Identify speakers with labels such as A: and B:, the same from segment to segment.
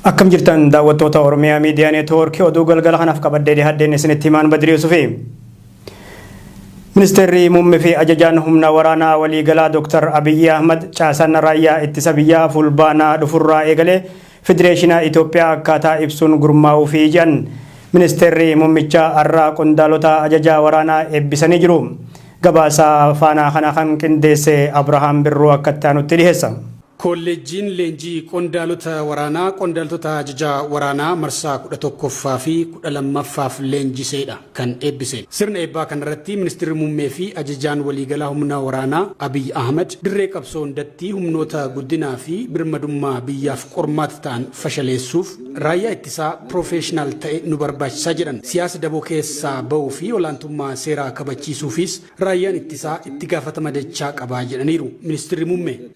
A: Akkam jirtan daawwattoota Oromiyaa Miidiyaa Neetwoorkii oduu galgala kanaaf qabadhee dhihaadheen isinitti himaan Badrii Yusufi. Ministeerri Muummee fi Ajajaan Humna Waraanaa Waliigalaa Dr. Abiyyi Ahmad caasaan raayyaa ittisa biyyaa fulbaanaa dhufurraa eegalee Federeeshina Itoophiyaa akkaataa ibsuun gurmaa'uu fi jedhan. Ministeerri Muummichaa har'a qondaalota ajajaa waraanaa eebbisanii jiru. Gabaasa faanaa kana kan qindeesse Abrahaam Birruu akka itti aanutti dhiheessa. Koolleejjiin
B: leenjii qondaalota waraanaa qondaaltota ajaja waraanaa marsaa 11ffaa fi 12ffaaf leenjiseedha kan eebbise. Sirna eebbaa kanarratti Ministirri Muummee fi Ajajaan Waliigalaa Humna Waraanaa Abiy Ahmad dirree qabsoo hundatti humnoota guddinaa fi birmadummaa biyyaaf qormaata ta'an fashaleessuuf raayyaa ittisaa piroofeeshinaal ta'e nu barbaachisa jedhan. Siyaasa daboo keessaa ba'uu fi olaantummaa seeraa kabachiisuufiis raayyaan ittisaa itti gaafatama dachaa qaba jedhaniiru Ministirri Muummee.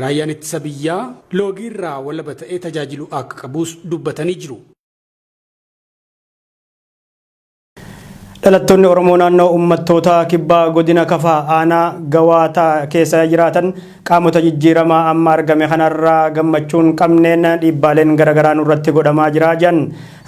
C: Raayyaan Ittisa
B: Biyyaa loogiirraa walaba ta'ee tajaajiluu akka qabus dubbatanii jiru.
A: Dhalattoonni Oromoo naannoo uummattoota kibbaa godina Kafaa aanaa Gawaataa keessa jiraatan qaamota jijjiiramaa amma argame kanarraa gammachuun qabneen dhiibbaaleen garaagaraa nurratti godhamaa jira jedhan.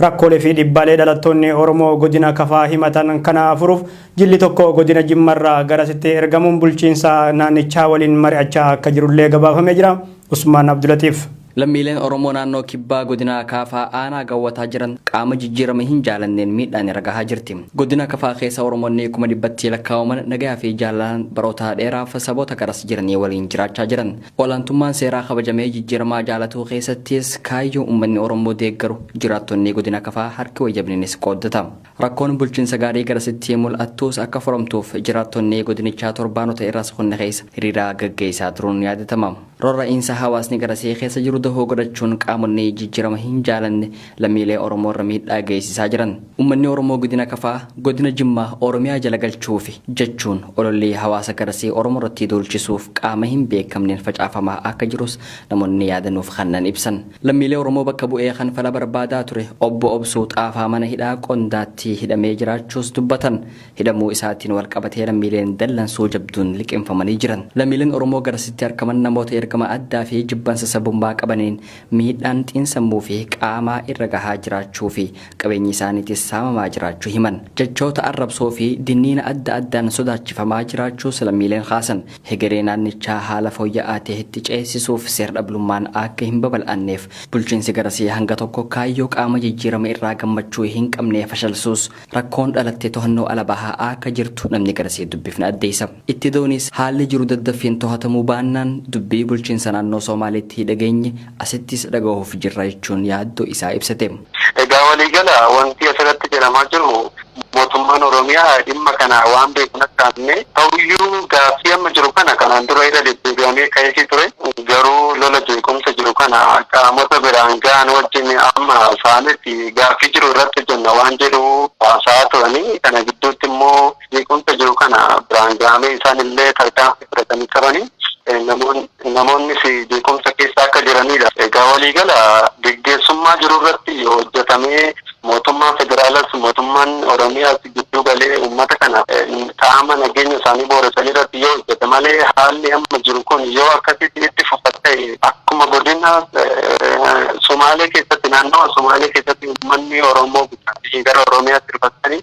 A: Rakkoolee fi dhiibbaalee dhalattoonni Oromoo godina Kafaa himatan kana furuuf Jilli tokko godina Jimmarraa garasitti ergamuun bulchiinsa naannichaa waliin mari'achaa akka jirullee gabaafamee jira. Usmaan Abdulatiif. Lammiileen Oromoo
D: naannoo Kibbaa godina Kaafaa aanaa Gawwataa jiran qaama jijjiirama hin jaalanneen miidhaan irra gahaa jirti. Godina Kafaa keessa Oromoonni kuma dhibbatti lakkaa'aman nagayaa fi jaalalaan baroota dheeraaf saboota garas jiranii waliin jiraachaa jiran. Olaantummaan seeraa kabajamee jijjiiramaa jaalatuu keessattis kaayyoo uummanni Oromoo deeggaru jiraattonni godina Kafaa harki wayyabniinis qooddata. Rakkoon bulchiinsa gaarii garasitti mul'attuus akka furamtuuf jiraattonni godinichaa torbaanota irras kunni keessa hiriiraa gaggeessaa turuun ni yaadatama. Rorra'iinsa hawaasni garasii keessa jiru dahoo godhachuun qaamonni jijjirama hin jaalanne lammiilee Oromoo irra miidhaa geessisaa jiran. Ummanni Oromoo Gidina Kafaa Godina Jimmaa Oromiyaa jala galchuufi jechuun ololli hawaasa garasii Oromoo irratti duulchisuuf qaama hin beekamneen facaafamaa akka jirus namoonni yaada nuuf kannan ibsan. Lammiilee Oromoo bakka bu'ee kan fala barbaadaa ture Obbo Obsuu Xaafaa mana hidhaa Qondaatti hidhamee jiraachuus dubbatan. Hidhamuu isaatiin walqabatee lammiileen dallansuu jabduun liqimfamanii jiran. Lammiileen Oromoo garasitti arkaman namoota ergama addaa fi jibbansa sabummaa qabaniin miidhaan xiinsammuu fi qaamaa irra gahaa jiraachuu fi qabeenyi isaaniitis saamamaa jiraachuu himan. Jechoota arrabsoo fi dinniina adda addaan sodaachifamaa jiraachuus lammiileen kaasan. Hegeree naannichaa haala fooyya'aa ta'etti ceesisuuf seer-dhablummaan akka hin babal'anneef bulchiinsi garasii hanga tokko kaayyoo qaama jijjiirama irraa gammachuu hin qabne fashalsuus rakkoon dhalatte tohannoo ala bahaa akka jirtu namni garasii dubbifne addeessa. Itti dauniis haalli jiru daddaffiin tohatamuu baannaan dubbii bulchiinsa naannoo Soomaaleetti dhageenye asittis dhagahuuf jirra jechuun yaaddoo isaa ibsate. Egaa waliigala
E: wanti asirratti jedhamaa jiru mootummaan Oromiyaa dhimma kana waan beeku hin akkaamne. Ta'uyyuu gaaffii amma jiru kana kanaan dura irra deddeebi'amee ka'eefii ture. Garuu lola jeequmsa jiru kana qaamota biraan ga'an wajjin amma saametti gaaffii jiru irratti hojjenna waan jedhu haasa'aa turani. Kana gidduutti immoo jeequmsa jiru kana biraan ga'amee isaan illee tarkaanfii fudhatanii turani. Namoonni. Namoonnis jeequmsa keessa akka jiranidha. Egaa waliigala geggeessummaa jirurratti yoo hojjetamee mootummaan federaalas mootummaan Oromiyaas gidduu galee uummata kana qaama nageenya isaanii booressanirratti yoo hojjete malee haalli amma jiru kun yoo akkasitti itti fufa ta'e akkuma godina Sumaalee keessatti naannawa Sumaalee keessatti uummanni Oromoo buqqa'anii gara Oromiyaatti dhufanii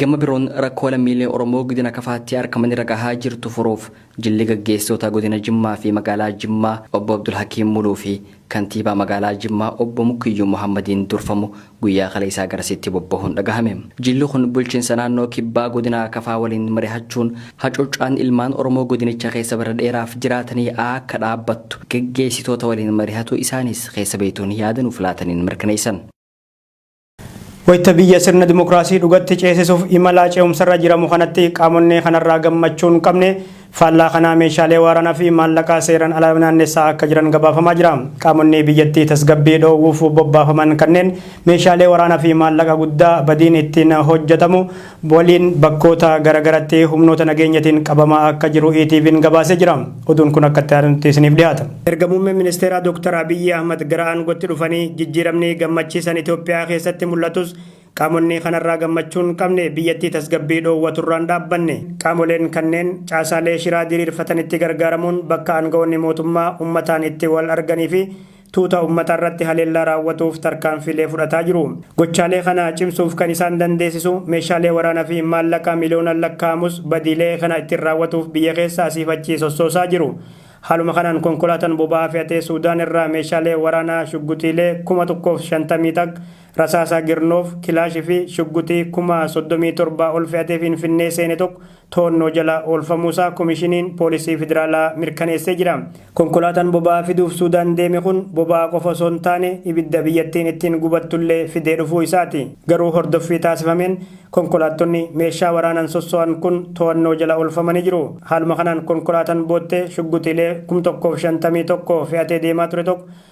D: Gama biroon rakkoo lammiilee Oromoo Godina Kafaatti arkaman irra gahaa jirtu furuuf jilli gaggeessitoota Godina Jimmaa fi Magaalaa Jimmaa Obbo Abdulhakiim Muluu fi Kantiibaa Magaalaa Jimmaa Obbo Mukkiyyuu Muhammadiin durfamu guyyaa kaleessaa garasitti bobbahuun dhagahame. Jilli kun bulchinsa naannoo Kibbaa Godina Kafaa waliin marihachuun hacuuccaan ilmaan Oromoo Godinicha keessa bara dheeraaf jiraatanii akka dhaabbattu gaggeessitoota waliin marihatuu isaaniis keessa beektoonni yaada nuuf laataniin mirkaneessan.
A: Wayita biyya sirna dimokiraasii dhugatti ceesisuuf imalaa ce'umsarra jiramu kanatti qaamonnee kanarraa gammachuu hin qabne faallaa kanaa meeshaalee waaraanaa fi maallaqaa seeraan ala naannessaa akka jiran gabaafamaa jira. Qaamonnee biyyattii tasgabbii dhoowwuuf bobbaafaman kanneen meeshaalee waraanaa fi maallaqa guddaa badiin ittiin hojjetamu waliin bakkoota garagaratti humnoota nageenyatiin qabamaa akka jiru ETV'n gabaasee jira. Oduun kun akka itti aanutti isiniif dhiyaata. Erga muummeen ministeeraa Dooktar Abiyyi Ahmad gara aangootti dhufanii jijjiiramni gammachiisan Itoophiyaa keessatti mul'atus qaamonni kanarraa gammachuu hin qabne biyyattii tasgabbii dhoowwaturraa hin dhaabbanne. Qaamoleen kanneen caasaalee shiraa diriirfatanitti gargaaramuun bakka aanga'oonni mootummaa ummataan itti wal arganiifi tuuta ummata irratti haleellaa raawwatuuf tarkaanfiilee fudhataa jiru. Gochaalee kana cimsuuf kan isaan dandeessisu meeshaalee waraana fi maallaqa miliyoonaan lakkaa'amus badiilee kana ittiin raawwatuuf biyya keessa asiif achi sossoosaa jiru. Haaluma kanaan konkolaatan boba'aa fe'atee Suudaan irraa meeshaalee waraanaa shugguxiilee 1050 taq, rasaasa Girnoof, Kilaash fi shugguxii 37,000 ol fe'atee Finfinnee seene tokko to'annoo jala oolfamuusaa Komishiniin Poolisii Federaalaa mirkaneessee jira. Konkolaataan boba'aa fiduuf Suudaan deeme kun boba'aa qofa osoo hin taane ibidda biyyattiin ittiin gubattullee fidee dhufuu isaati. Garuu hordoffii taasifameen konkolaattonni meeshaa waraanaan sosso'an kun to'annoo jala oolfamanii jiru. Haaluma kanaan konkolaataan boottee shugguxiilee 1051 fe'atee deemaa ture tokko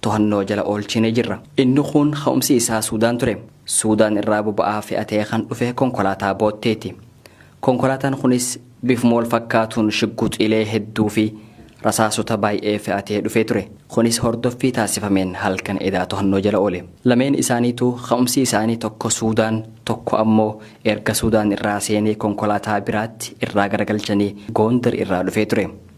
D: tohannoo jala oolchinee jirra. Inni kuun ka'umsi isaa Suudaan ture. Suudaan irraa boba'aa fe'atee kan dhufe konkolaataa bootteeti. Konkolaataan kunis bifuma wal fakkaatuun shigguxiilee hedduu fi rasaasota baay'ee fe'atee dhufee ture. Kunis hordoffii taasifameen halkan edaa tohannoo jala oole. Lameen isaaniituu ka'umsi isaanii tokko Suudaan, tokko ammoo erga Suudaan irraa seenee konkolaataa biraatti irraa garagalchanii Goondar irraa dhufee ture.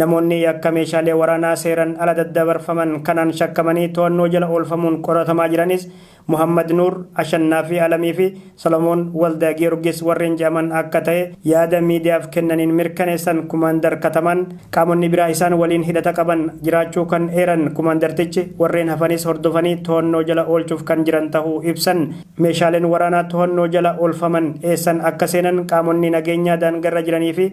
F: Namoonni yakka
A: meeshaalee waraanaa seeran ala daddabarfaman kanaan shakkamanii to'annoo jala oolfamuun qoratamaa jiranis Muhammad Nuur, Ashannaafii Alamii fi Solomoon Waldagiyorgis warreen jedhaman akka ta'e yaada miidiyaaf kennaniin mirkaneessan Kumaandar Katamaan, qaamonni biraa isaan waliin hidhata qaban jiraachuu kan eeran kumaandartichi, warreen hafanis hordofanii to'annoo jala oolchuuf kan jiran tahuu ibsan. Meeshaaleen waraanaa to'annoo jala oolfaman eessan akka seenan qaamonni nageenyaa daangarra jiranii fi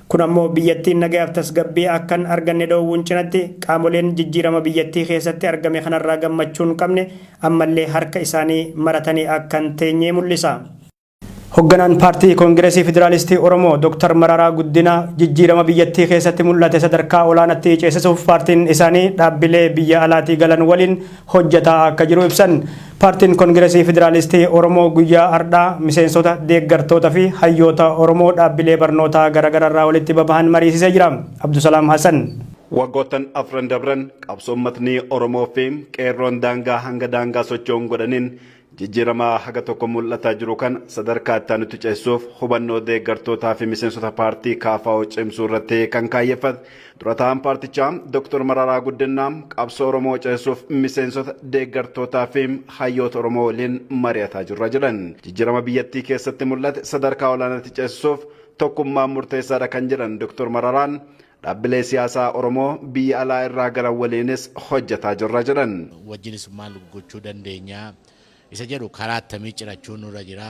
A: Kun ammoo biyyattiin nagayaaf tasgabbii akka hin arganne dhoowwuun cinatti, qaamoleen jijjiirama biyyattii keessatti argame kanarraa gammachuu hin qabne ammallee harka isaanii maratanii akka hin teenye mul'isa. Hogganaan Paartii Kongiresii Federaalistii Oromoo Dr. Mararaa Guddinaa jijjiirama biyyattii keessatti mul'ate sadarkaa olaanaatti ceesisuuf paartiin isaanii dhaabbilee biyya alaatii galan waliin hojjataa akka jiru ibsan. Paartiin Kongiresii Federaalistii Oromoo guyyaa ardhaa miseensota, deeggartoota fi hayyoota Oromoo dhaabbilee barnootaa garagararraa walitti babahan mariisisee jira. Abdusalaam Hasan. Waggoottan
G: afran dabran qabsoo ummatni Oromoo fi qeerroon daangaa hanga daangaa socho'uun godhaniin Jijjiirama haga tokko mul'ataa jiru kana sadarkaa itti aanutti ceessuuf hubannoo deeggartootaa fi miseensota paartii KFO cimsuu irratti kan kaayyeffate dura taa'aan paartichaa Dr. Mararaa Guddinaa qabsoo Oromoo ceessuuf miseensota deeggartootaa fi hayyoota Oromoo waliin mari'ataa jirra jedhan. Jijjiirama biyyattii keessatti mul'ate sadarkaa olaanaatti ceesisuuf tokkummaan murteessaadha kan jedhan Dr. Mararaan Dhaabbilee siyaasaa Oromoo biyya alaa irraa galan waliinis hojjetaa jirra jedhan. wajjinis maal
H: gochuu dandeenya isa jedhu karaa attamii cirachuun nurra jira.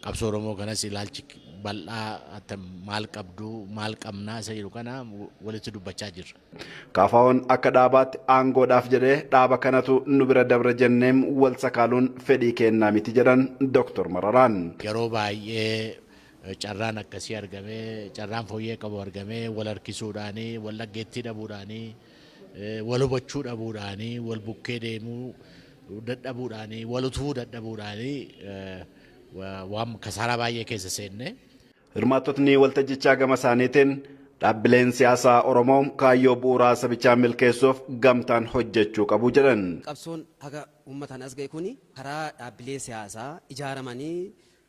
H: Qabsoo Oromoo kanas ilaalchi bal'aa attam maal qabdu maal qabna isa jedhu kana walitti dubbachaa jirra. KFOn akka
G: dhaabaatti aangoodhaaf jedhee dhaaba kanatu nu bira dabre jenneem wal sakaaluun fedhii keennaa miti jedhan Doktor Mararaan. Yeroo baay'ee
H: carraan akkasii argamee, carraan fooyyee qabu argamee wal harkisuudhaani, wal dhaggeettii dhabuudhaani, wal hubachuu dhabuudhaani, wal bukkee deemuu dadhabuudhaani, wal utubuu dadhabuudhaani waan kasaaraa baay'ee keessa seenne. Hirmaattotni
G: waltajjichaa gama isaaniitiin dhaabbileen siyaasaa Oromoo kaayyoo bu'uuraa sabichaa milkeessuuf gamtaan hojjechuu qabu jedhan. Qabsoon haga
I: uummataan as ga'e kuni karaa dhaabbilee siyaasaa ijaaramanii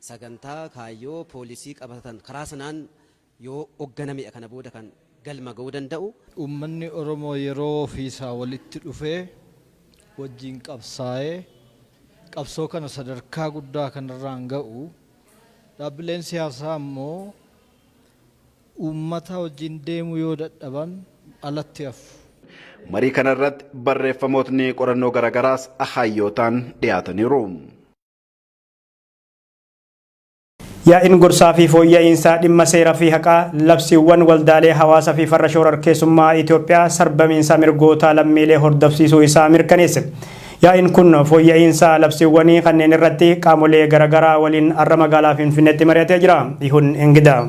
I: sagantaa, kaayyoo, poolisii qabatatan karaa sanaan yoo ogganamedha kana booda kan galma ga'uu danda'u. Uummanni Oromoo
J: yeroo ofiisaa walitti dhufee wajjin qabsaa'ee qabsoo kana sadarkaa guddaa kanarraan ga'u, dhaabbileen siyaasaa ammoo uummataa wajjin deemuu yoo dadhaban alatti hafu. Marii
G: kanarratti barreeffamootni qorannoo garaagaraas hayyootaan dhiyaataniiru.
A: Yaa'iin gorsaa fi fooyya'iinsaa dhimma seera fi haqaa, labsiiwwan, waldaalee hawaasa fi farra shoorarkeessummaa Itoophiyaa sarbamiinsa mirgootaa lammiilee hordofsiisuu isaa mirkaneesse. Yaa'iin kun fooyya'iinsa labsiiwwanii kanneen irratti qaamolee garagaraa waliin har'a magaalaa Finfinneetti mari'atee jira. Ihun Engidaa.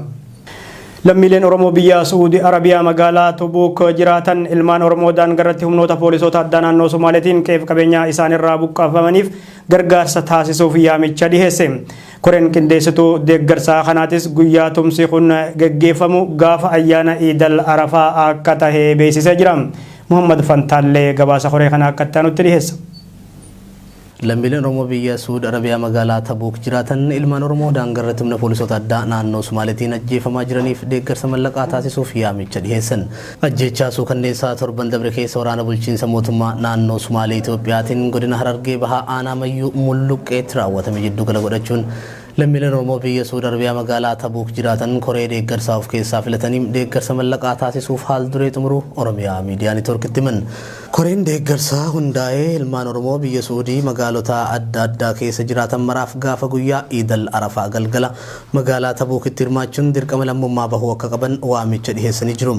A: Lammiileen Oromoo biyya Su'uudi Arabiyaa magaalaa Tubuuk jiraatan ilmaan Oromoo daangarratti humnoota poolisoota addaa naannoo Somaaleetiin qe'eef qabeenyaa isaanirraa buqqaafamaniif gargaarsa taasisuuf yaamicha dhiheesse. Koreen qindeessituu deeggarsaa kanaatis guyyaa tumsi kun gaggeeffamu gaafa ayyaana Iidal Arafaa akka tahe beeksisee jira. Muhammad Fantaallee gabaasa koree kana akka itti aanutti dhiheessa.
K: Lammiileen Oromoo biyya Suud Arabiyaa magaalaa Tabuuk jiraatan ilmaan Oromoo daangarratti humna poolisoota addaa naannoo Sumaaleetiin ajjeefamaa jiraniif deeggarsa mallaqaa taasisuuf yaamicha dhiheessan. Ajjeechaa suukanneessaa torban dabre keessa waraana bulchiinsa mootummaa naannoo Sumaalee Itoophiyaatiin godina Harargee Bahaa aanaa Mayyuu Mulluqqeetti raawwatame jiddu gala godhachuun lammiileen Oromoo biyya Suud Arabiyaa magaalaa Tabuuk jiraatan koree deeggarsaa of keessaa filatanii deeggarsa mallaqaa taasisuuf haal duree xumuruu Oromiyaa Miidiyaa Nitoorkitti himan. Koreen deeggarsaa hundaa'ee ilmaan Oromoo biyya Suudii magaalota adda addaa keessa jiraatan maraaf gaafa guyyaa Iidal Arafaa galgala Magaalaa Tabuukitti hirmaachuun dirqama lammummaa bahuu akka qaban waamicha dhiheessanii jiru.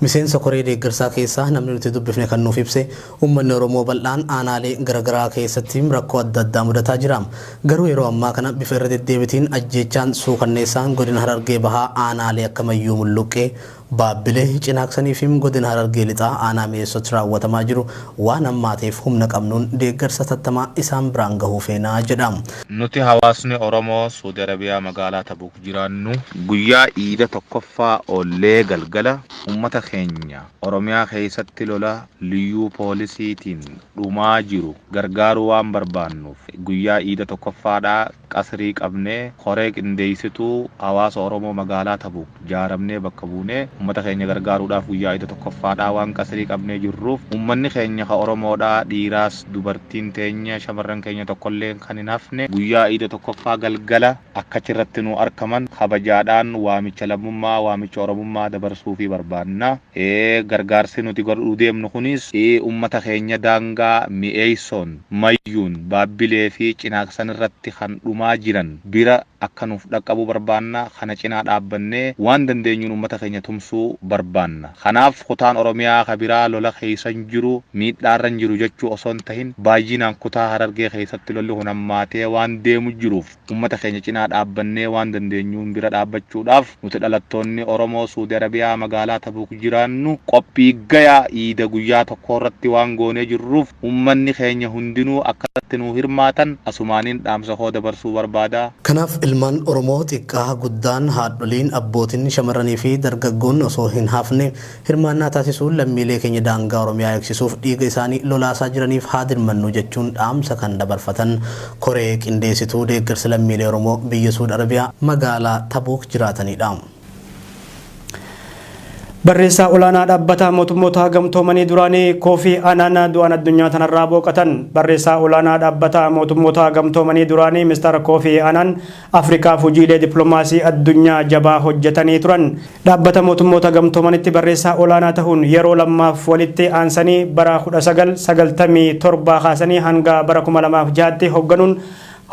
K: Miseensa koree deeggarsaa keessaa namni nuti dubbifne kan nuuf ibse, uummanni Oromoo bal'aan aanaalee garagaraa keessatti rakkoo adda addaa mudataa jira. Garuu yeroo ammaa kana bifa irra deddeebitiin ajjeechaan suukanneessaan godina Harargee Bahaa aanaalee akka Mayyuu Mulluqqee, Baabbilee, Cinaaqsanii fi Godina Harargee Lixaa Aanaa Mi'eessootti raawwatamaa jiru waan hammaateef humna qabnuun deeggarsa hatattamaa isaan biraan gahuu feena jedha. Nuti hawaasni
L: Oromoo Suudi Arabiyaa magaalaa Tabuuk jiraannu guyyaa Iida 1ffaa oollee galgala uummata keenya Oromiyaa keessatti lola Liyyuu Poolisiitiin dhumaa jiru gargaaruu waan barbaannuuf guyyaa Iida 1ffaadhaa Qasrii qabnee, koree qindeessituu hawaasa Oromoo magaalaa Tabuuk jaaramnee bakka buunee ummata keenya gargaaruudhaaf guyyaa Iida tokkoffaadhaa waan qasrii qabnee jirruuf ummanni keenya ka Oromoodhaa dhiiraas dubartiin teenya shamarran keenya tokkolleen kan hin hafne guyyaa Iida tokkoffaa galgala akka achirratti nu arkaman kabajaadhaan waamicha lammummaa, waamicha Oromummaa dabarsuufii barbaanna. Gargaarsi nuti godhuu deemnu kunis ummata keenya daangaa mi'eessoon. Mayyuun, Baabbilee fi Cinaaksan irratti kan dhumaa jiran bira akka nuuf dhaqqabuu barbaanna. Kana cinaa dhaabbannee waan dandeenyuun ummata keenya tumsuu barbaanna. Kanaaf kutaan Oromiyaa ka biraa lola keessa hin jiru, miidhaa irra hin jiru jechuu osoo hin tahin, baayyinaan kutaa Harargee keessatti lolli kun hammaatee waan deemu jiruuf, Ummata keenya cinaa dhaabbannee waan dandeenyuun bira dhaabbachuudhaaf nuti dhalattoonni Oromoo Suudi Arabiyaa magaalaa Tabuuk jiraannu qophii gaya iida guyyaa tokkoorratti waan goonee jirruuf ummanni keenya hundinuu akkanatti nuu hirmaatan asumaanin dhaamsa koo dabarsuu barbaada. Kanaaf ilmaan
K: Oromoo xiqqaa, guddaan, haadholiin, abbootin, shamarranii fi dargaggoonni osoo hin hafne Hirmaannaa taasisuun lammiilee keenya daangaa Oromiyaa eegsisuuf dhiiga isaanii lolaasaa jiraniif haa dirmannu jechuun dhaamsa kan dabarfatan koree qindeessituu deeggarsa lammiilee Oromoo biyya Suud Arabiyaa magaalaa Tabuuk jiraataniidha.
A: Barreessaa Olaanaa Dhaabbata Mootummoota Gamtoomanii duraanii Koofii Anaan du'aan addunyaa tanarraa booqatan. Barreessaa Olaanaa Dhaabbata Mootummoota Gamtoomanii duraanii Mr. Koofii Anaan Afrikaaf hojiilee dippilomaasii addunyaa jabaa hojjetanii turan. Dhaabbata Mootummoota Gamtoomanitti barreessaa olaanaa tahuun yeroo lammaaf walitti aansanii bara 1997 kaasanii hanga bara 2006tti hogganuun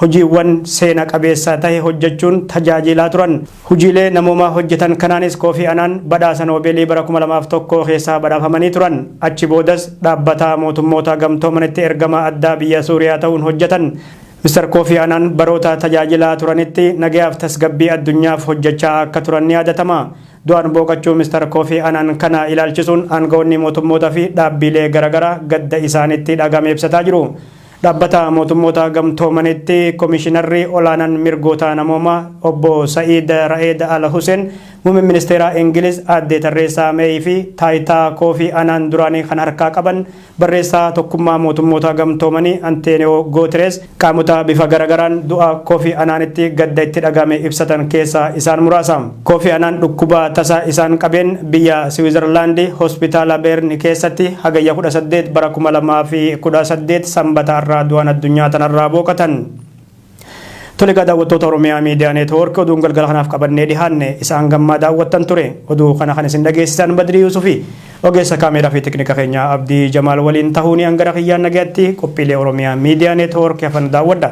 A: hojiiwwan seena qabeessa tahe hojjechuun tajaajiilaa turan. Hojiilee namoomaa hojjetan kanaanis Koofii Anaan badhaasa Noobeelii bara 2001 keessaa badhaafamanii turan. Achi boodas dhaabbata Mootummoota Gamtoomanitti ergamaa addaa biyya Suuriyaa tahuun hojjetan. Mr Kofi Anan baroota tajaajilaa turanitti nagayaaf tasgabbii addunyaaf hojjechaa akka turan ni yaadatama. Du'aan booqachuu Mr Kofi Anan kana ilaalchisuun aanga'oonni mootummoota fi dhaabbiilee garagaraa gadda isaanitti dhagahame ibsataa jiru. Dhaabbata mootummoota gamtoomanitti komishinarri olaanan mirgoota namoomaa obbo Sa'iid Ra'eed Al Huseen muummeen ministeeraa Ingiliz aadde Tarreessaa Meey fi taayitaa Kofi Anaan duraanii kan harkaa qaban Barreessaa Tokkummaa Mootummoota Gamtoomanii Anteeniyoo Gootirees qaamota bifa garagaraan du'a Kofi Anaanitti gadda itti dhaga'ame ibsatan keessaa isaan muraasa. Kofi Anaan dhukkuba tasa isaan qabeen biyya Siwiizarlaandi Hospitaala Beerni keessatti Hagayya 18 bara 2018 Sambata har'aa du'an addunyaa tanarraa booqatan. Tole egaa daawwattoota Oromiyaa Miidiyaa Neetwoork oduun galgala kanaaf qabannee dhihaanne isaan gammaa daawwattan ture. Oduu kana kan isin dhageessisan Badrii Yuusufi ogeessa kaameeraa fi teknika keenyaa Abdii Jamaal waliin tahuuni hangara kiyyaan nagayatti qophiilee Oromiyaa Miidiyaa Neetwoork hafan daawwadha.